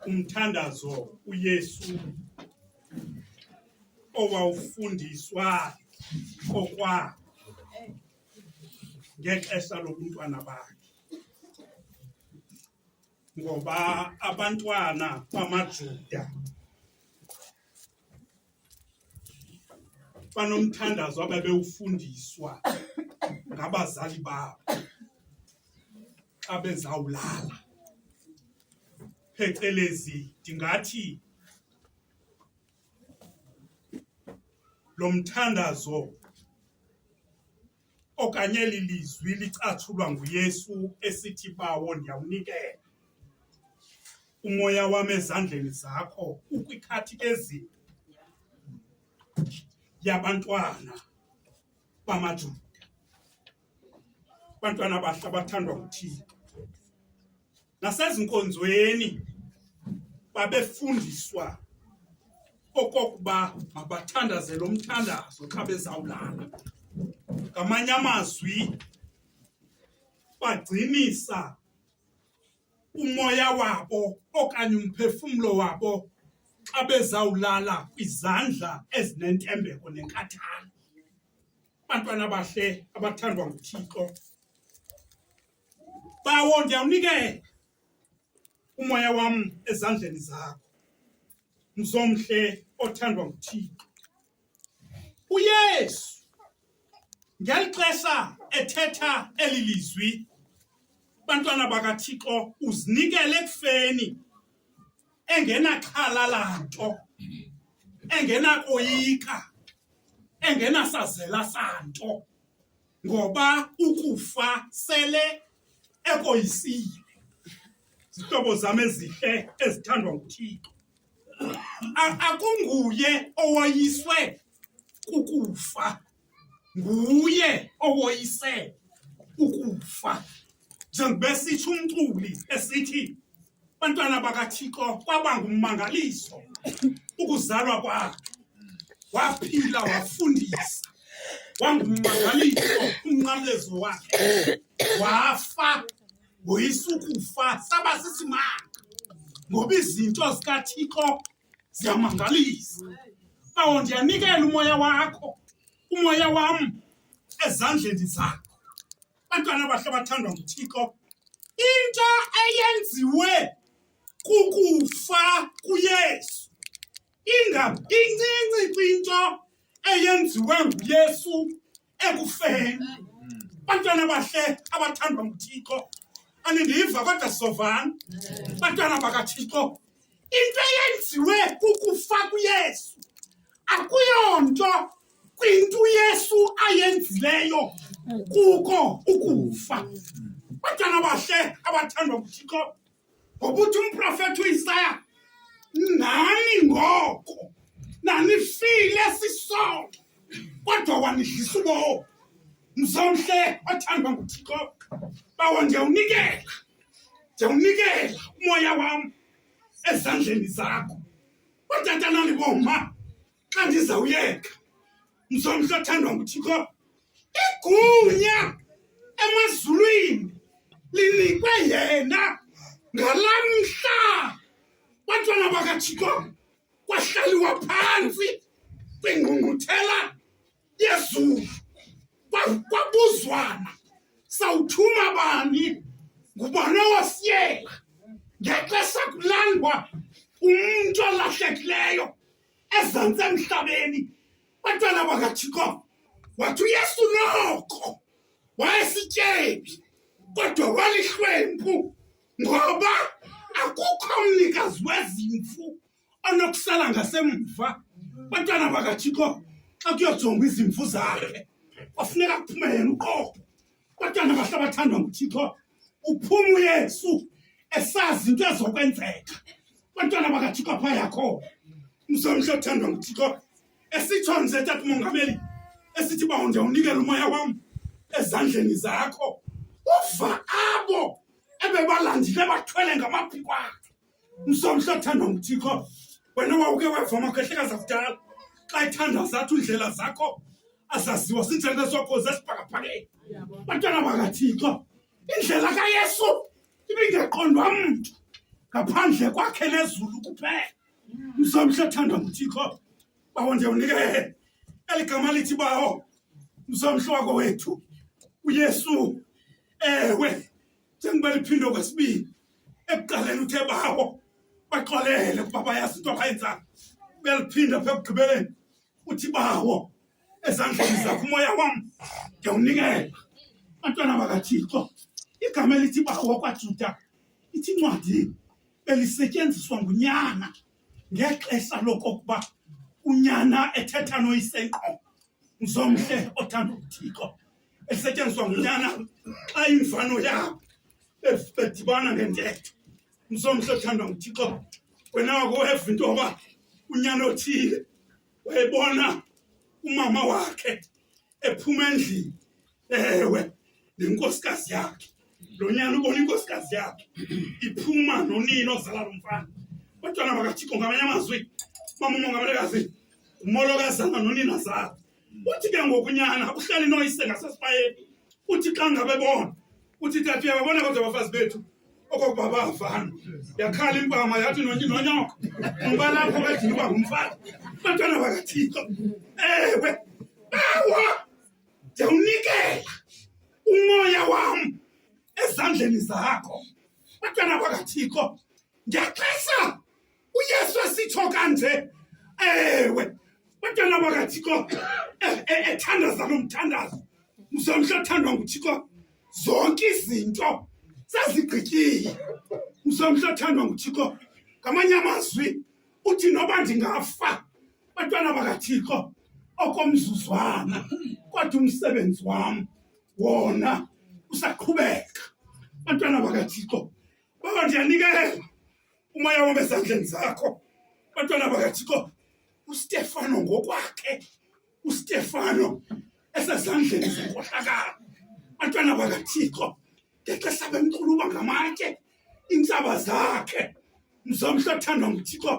umthandazo uYesu owawufundiswa kokwa ngexesha lobuntwana bakhe ngoba abantwana bamaJuda banomthandazo ababewufundiswa ngabazali babo xa bezawulala phecelezi ndingathi lo mthandazo okanye eli lizwi licatshulwa nguYesu esithi bawo ndiyawunikela umoya wam ezandleni zakho ukwikhathi ezini yabantwana bamaJuda bantwana bahle abathandwa nguThixo nasezinkonzweni babefundiswa okokuba mabathandaze lo mthandazo xa bezawulala ngamanye amazwi bagcinisa umoya wabo okanye umphefumlo wabo xa bezawulala kwizandla ezinentembeko nenkathalo bantwana bahle abathandwa nguthixo Bawo, ndiyawunikela umoya wam ezandleni zakho, mzomhle othandwa nguThixo. UYesu ngeli xesha ethetha eli lizwi, bantwana bakaThixo, uzinikele ekufeni engenaxhala lanto, engenakoyika, engenasazela santo. ngoba ukufa sele ekoyisile zihlobo zam ezihle ezithandwa nguthixo akunguye owoyiswe kukufa nguye owoyise ukufa njengoba esithi umculi esithi Bantwana bakaThixo kwaba ngummangaliso ukuzalwa kwakhe. Waphila wafundisa. Wangummangaliso umnqamlezo wakhe. Wafa woyisa ukufa saba sisimanga. Ngoba izinto zikaThixo ziyamangalisa. Bawo ndiyanikela umoya wakho, umoya wam ezandleni zakho. Bantwana bahle bathandwa nguThixo. Into eyenziwe kukufa kuYesu. Inga incinci kwinto eyenziwe nguYesu ekufeni. Bantwana bahle abathandwa nguThixo. Anindiva kodwa sovana. Bantwana bakaThixo Into eyenziwe kukufa kuYesu akuyonto kwinto uYesu ayenzileyo kuko ukufa. Batshana bahle abathandwa nguThixo ngokuthi umprofethi uIsaya nani ngoko nanifile sisonke kodwa wanidlisa ubomi mzomhle othandwa nguThixo bawo ndiyawunikela ndiyawunikela umoya wam ezandleni zakho otata nani boma xa ndizawuyeka msomhla othandwa nguthixo igunya emazulwini linikwe yena ngala mhla bantwana bakathixo kwahlaliwa phantsi kwingqungquthela yezulu kwabuzwana sawuthuma bani ngubani owasiyela ngexesha kulandwa umntu olahlekileyo ezantsi emhlabeni bantwana bakathixo wathi uyesu noko wayesityebi kodwa walihlwempu ngoba akukho mnikazi wezimfu anokusala ngasemva bantwana bakathixo xa kuyojongwa izimvu zakhe kwafuneka kuphume yena uqobo bantwana bahle bathandwa nguthixo uphuma uyesu esazi into ezokwenzeka bantwana bakathixo pha yakho mzomhle othandwa nguthixo esitsho nje tata umongameli esithi bawo ndiyawunikela umoya wam ezandleni zakho uva abo ebebalandile bathwele ngamaphikwana Msomhle othandwa nguThixo, wena wawuke weva amakhwehlekazi akudala xa ethanda zathu iindlela zakho azaziwa sindlela sakho zesibhakabhakeni. Bantwana bakaThixo, indlela kaYesu ibingaqondwa mntu ngaphandle kwakhe nezulu kuphela. Msomhle othandwa nguThixo, bawo ndiyawunike eli gama lithi bawo, msomhle wako wethu uYesu. Ewe, njengoba liphindwe kwesibini ekuqaleni uthe bawo baxolele ukuba bayazi into abayenzayo uyaliphinda pha ekugqibeleni uthi bawo ezandleni zakho umoya wam ndiyawunikela bantwana bakathixo igama elithi bawo kwajuda ithi ncwadi belisetyenziswa ngunyana ngexesha lokokuba unyana ethetha noyisenqo mzomhle othanda uthixo esetyenziswa ngunyana xa imfano yabo bedibana ngentetho msomhle othandwa nguthixo wena wakuweva into yoba unyana othile wayebona umama wakhe ephuma endlini ewe nenkosikazi yakhe lo nyana ubona inkosikazi yakhe iphuma nonini ozala lo mfana kodwana makathixo ngamanye amazwi mamumongamelekazi ngumolokazana nonina zakhe uthi ke ngokunyana uhlale noyise ngasesipayeni uthi xa ngabe bona uthi tati yababona kodwa abafazi bethu okokuba bavana yakhala impama yathi nonyoko umbalapho bedini uba ngumfazi bantwana bakathixo ewe bawa ndiyawunikela umoya wam ezandleni zakho bantwana bakathixo ndiyaxesa uYesu esitsho kanje ewe bantwana bakathixo eh, eh, ethandaza lo mthandazo mzomhla othandwa nguthixo zonke izinto sezigqityile mzomhla othandwa nguthixo ngamanye amazwi uthi noba ndingafa bantwana bakathixo okomzuzwana kodwa umsebenzi wam wona usaqhubeka bantwana bakathixo baba ndiyanikela umoya wam ezandleni zakho bantwana bakathixo ustefano ngokwakhe ustefano esezandleni zenkohlakalo bantwana bakathixo ngexesha bemquluba ngamatye iintsaba zakhe mzomhle othandwa nguthixo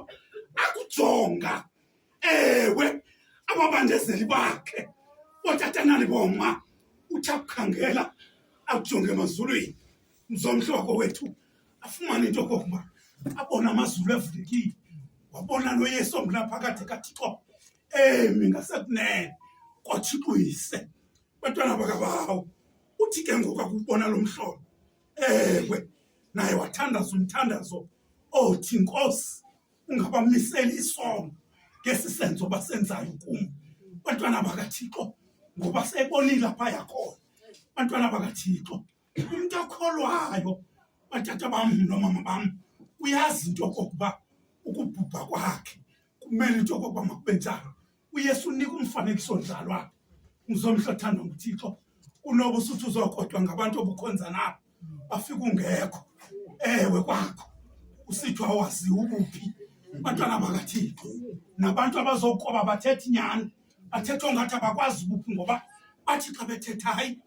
akujonga ewe ababandezeli bakhe ootatanani boma uthi akukhangela akujonge emazulwini mzontloko wethu afumane into kokuba abona amazulu evulekile wabona noyesu ongunaphakade kathixo emi ngasekunene kwathixo yise bantwana bakabawo uthi ke ngoku akubona lo mhlobo ewe naye wathandaza umthandazo othi nkosi ungabamiseli isono ngesi senzo basenzayo kum bantwana bakathixo ngoba sebonile apha yakhona bantwana bakathixo umntu okholwayo batata bam nomama bam uyazi into okokuba ukubhubha kwakhe kumele into okokuba makube njalo uyesu unika umfanekiso njalo apha ngizomhla thanda nguthixo unoba usuthi uzokodwa ngabantu obukhonza nabo bafika ungekho ewe kwakho usithiwa waziwa ubuphi abantwana bakathixo nabantu abazokoba bathetha inyani bathetha ongathi abakwazi ubuphi ngoba bathi xa bethetha hayi